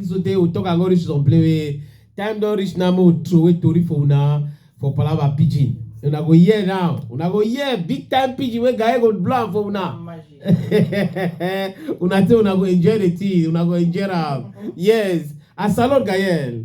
so tey we talk and go reach some place wey time don reach now make we throway tori for una for palava pidgin una go hear now una go hear big time pidgin wey guy go blow am for una una say una go enjoy the thing una go enjoy am yes asalot gayel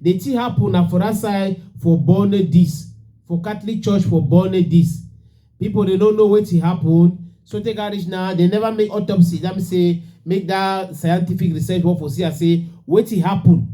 The thing happen na for that side for Borne dis for Catholic church for Borne dis. People dey no know wetin happen so take am reach now they never make autopsy that mean say make that scientific research work for see am say wetin happen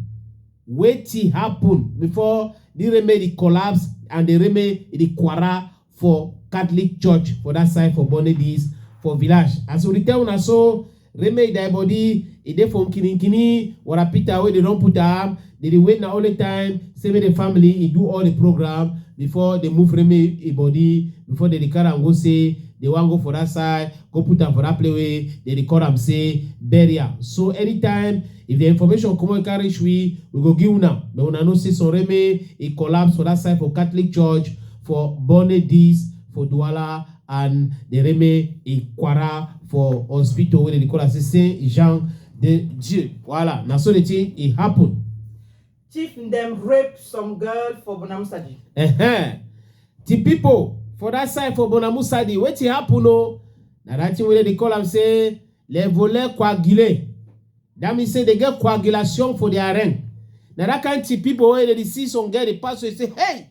wetin happen before the remedy collapse and the remedy the quarrel for Catholic church for that side for Born Again East for village. As we tell una so, Reme Idai body, e dey from Kininkini, Warapita wey dey don put am, dey dey wait na only time, say make the family e do all the program before they move Reme e body, before they dey carry am go say they wan go for that side, go put am for that place wey they dey call am say burial. So anytime if the information come wey carry reach we, we go give una, make una know say some Reme e collapse for that side for Catholic church for Borne Dis for Douala and the Reme Ikwara for hospital where they call us Saint Jean de Dieu. Voilà, na so the thing it happen. Chief them rape some girl for Bonamusadi. Uh huh. The people for that side for Bonamusadi, what it happen? Oh, now that thing where they call am say les voleurs coagulés. That means say they get coagulation for their arena. Now that kind of people where they see some girl they pass, they say, hey.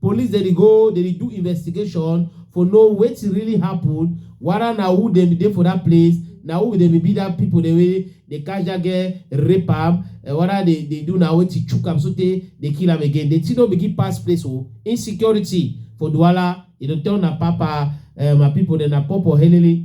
Police dem dey go dem dey do investigation for know wetin really happen, wada na who dem be dey for dat place, na who dem be be dat pipo dem wey dey catch dat girl rape am, wada dey dey do na wetin chook am sotey dey kill am again. Di tin don begin pass place o, insecurity for Douala e dey turn na papa um my pipo dem na pawpaw helele.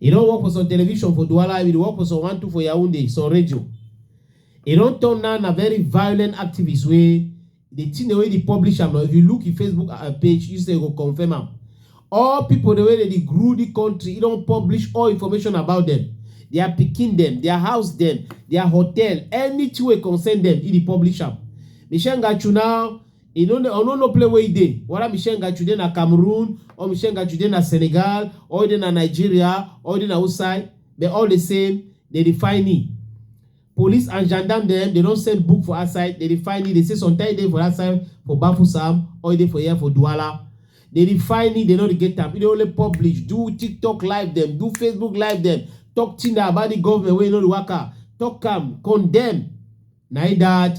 E don work for some television for Douala, e dey work for some one two for Yaoundé, some radio. E don turn now na very violent activist wey the thing dem wey dey publish am now if you look im Facebook uh, page you say you go confirm am. All people dem wey dey dey grow the country, e don publish all information about them, their pikin dem, their house dem, their hotel, anything wey concern them, e dey publish am. Michelle Ngachu now e no know no know play wey e dey whether michelle ngachu dey na cameroon or michelle ngachu dey na senegal or e dey na nigeria or e dey na outside they all the same they dey find me police and gendarme dem they don send book for outside they dey find me they say sometimes e dey for outside for bafusam or e dey for here for duala they dey find me they no dey get am e dey only publish do tiktok live dem do facebook live dem talk thing about the government wey no dey waka talk am condemn na e that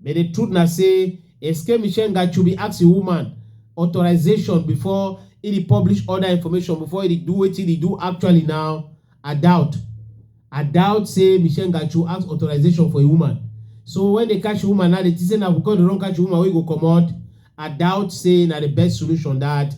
But the truth na say Eskem Ishengachubi ask him woman authorization before he dey publish other information before he dey do wetin he dey do actually now I doubt I doubt say Mishengachu ask authorization for a woman so when they catch woman now they think say na because they don catch woman wey go comot I doubt say na the best solution that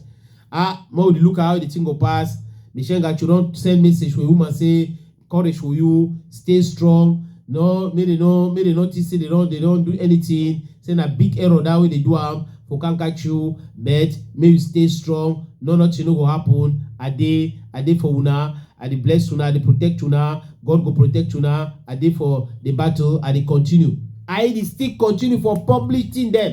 ah make we dey look how the thing go pass Mishengachu don send message for a woman say courage for you stay strong no make dem no make dem no think say they don they don do anything say na big error that way they do am for can catch you but make you stay strong no nothing no go happen i dey i dey for una i dey bless una i dey protect una god go protect una i dey for the battle i dey continue i dey still continue for public thing dem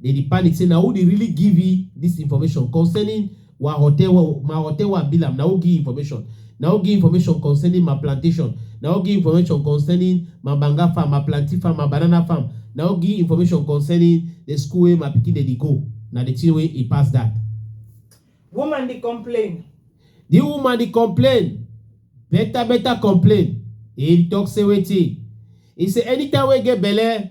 They dey panic say na who dey really give e this information concerning wa hotel wa ma hotel wa bilam na who give information na who give information concerning ma plantation na who give information concerning ma banga farm ma plantain farm ma banana farm na who give information concerning the school wey my pikin dey dey go na the thing wey e pass that. Woman dey complain. The woman dey complain better better complain e talk say wetin e say anytime wey e get belle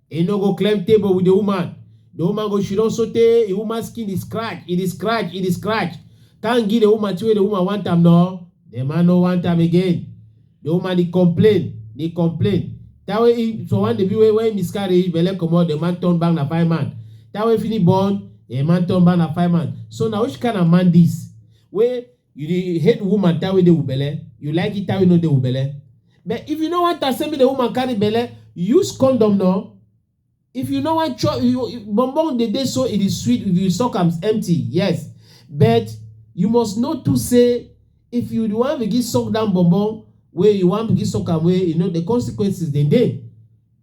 He no go climb table with the woman. The woman go she don so tey the woman skin dey scratch, e dey scratch, e dey scratch. Thank give the woman till wey the woman want am no. The man no want am again. The woman dey complain, dey complain. That way he for one baby wey wey miscarry, belle comot, the man turn back na five man. That way finish born, the man turn back na five man. So na which kind of man this? Wey You dey hate woman tie wey dey with belle, you like it tie wey no dey with belle. But if you no want am say make the woman carry belle, use condom no. If you no want chop, you, you, bonbon dey dey so e dey sweet if you suck am empty, yes. But you must know too say if you wan begin suck down bonbon wey you wan begin suck am wey you know the consequences dem dey.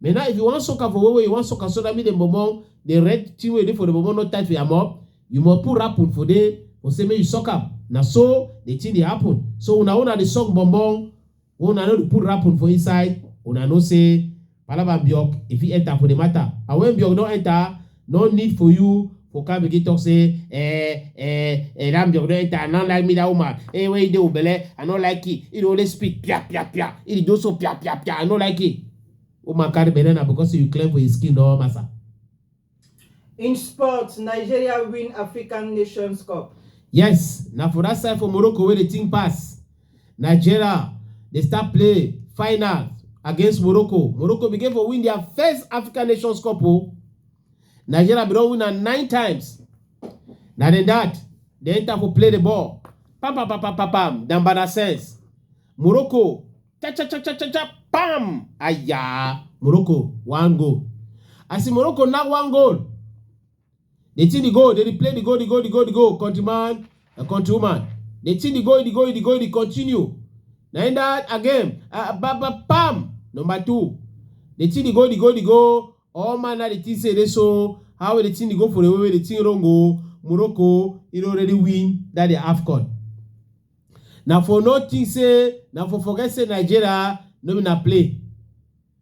But now if you want soak am for where you want soak am so that me the momo, the red thing wey dey for the momo no tight for your mouth, you must put rapun for there for say make you suck am. Na so the thing dey happen. So una una dey suck bonbon, una no dey put rapun for inside, una know say palava and biok e fit enter for the matter. And when biok don enter, No need for you for come begin talk say eh eh eh that job don enter I no like me that woman eh wey you dey with belle I no like it he dey always speak pia pia pia he dey do so pia pia pia I no like it woman carry belle na because you clear for his skin no massa. In sports, Nigeria win African Nations Cup. yes na for that side for Morocco wey dey think pass Nigeria dey start play final against Morocco. Morocco begin for win their first African Nations Cup o. Oh. Nigeria bin don win am nine times. Na dem that dey enter for play the ball. Pam pam pam pam pam pam. Dambada sense. Morocco. Cha cha cha cha cha cha. Pam. Aya. Morocco one goal. I see Morocco now one goal. Dey think the goal, dey replay the goal, the goal, the goal, the goal, country man and country woman. Dey think the goal, the goal, the goal, the continue. Na in that again, uh, ba ba pam, number two. Dey think the goal, the goal, the goal. All man na dey think say dey so how we dey think the goal for the way wey dey think wrong o. Morocco, e don already win that the AFCON. Na for no think say, na for forget say Nigeria no be na play.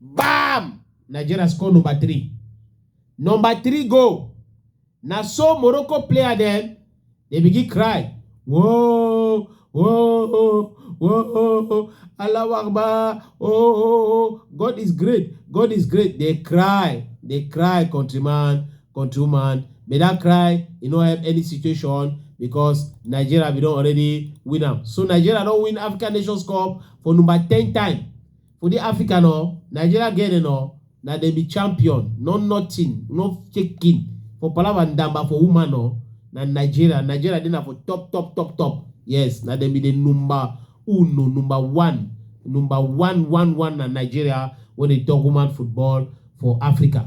Bam! Nigeria score number three. Number three goal. Na so Morocco player dem dey begin cry. Whoa, whoa, whoa, Allahu Akbar, oh, oh, oh, God is great, God is great. They cry, they cry, countryman, countrywoman. May that cry, e no help any situation because Nigeria we don already win am. So Nigeria don win African Nations Cup for number ten time. For the Africa no, Nigeria get it no, na dem be champion, no nothing, no shaking. For Palava Ndamba for woman no, na Nigeria, Nigeria dey na for top top top top. Yes, na dem be the number uno, number one, number one one one na Nigeria when they talk woman football for Africa.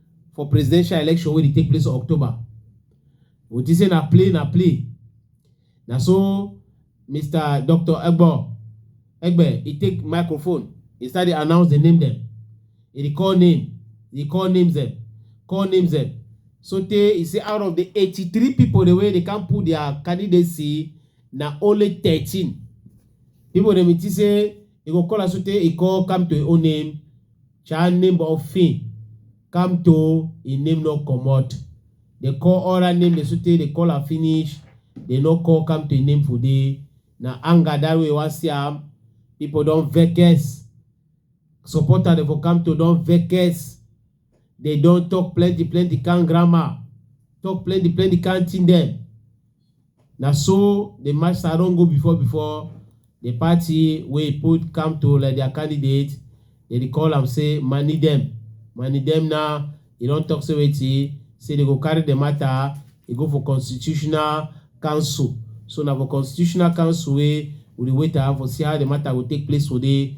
for presidential election wey dey take place for october we think say na play na play na so mr dr egbo egbe he take microphone he start dey announce the name dem he dey call name he call names dem call names dem so tey he say out of the eighty-three people the way they can put their candidacy na only thirteen people dem he think say he go call am so tey he call come to him own name Child name of Finn come to im name no comot. Dey call all her name dey so tey dey call am finish, dey no call come to im name for dey. Na anger that way wan see am. People don vex. Supporter dey for come to don vex. Dey don talk plenty plenty kind grammar, talk plenty plenty kind thing dem. Na so the master don go before before the party wey put come to like their candidate, they dey call am say money dem. Money dem now, he don talk say wetin, say they go carry the matter, e go for constitutional council. So na for constitutional council wey we dey wait am for see how the matter go take place today.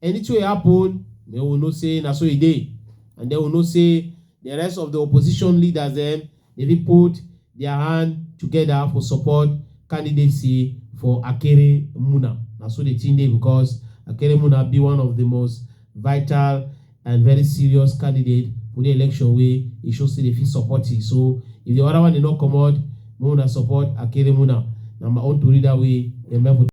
Anything wey happen, make we know say na so e dey and then we know say the rest of the opposition leaders dem dey fit put their hand together for support candidacy for Akere Muna. Na so the thing dey because Akere Muna be one of the most vital and very serious candidate for the election wey e show say dey fit support e so if the other one dey no comot, Make una support Akeremuna. Na my own tori that way. Dem help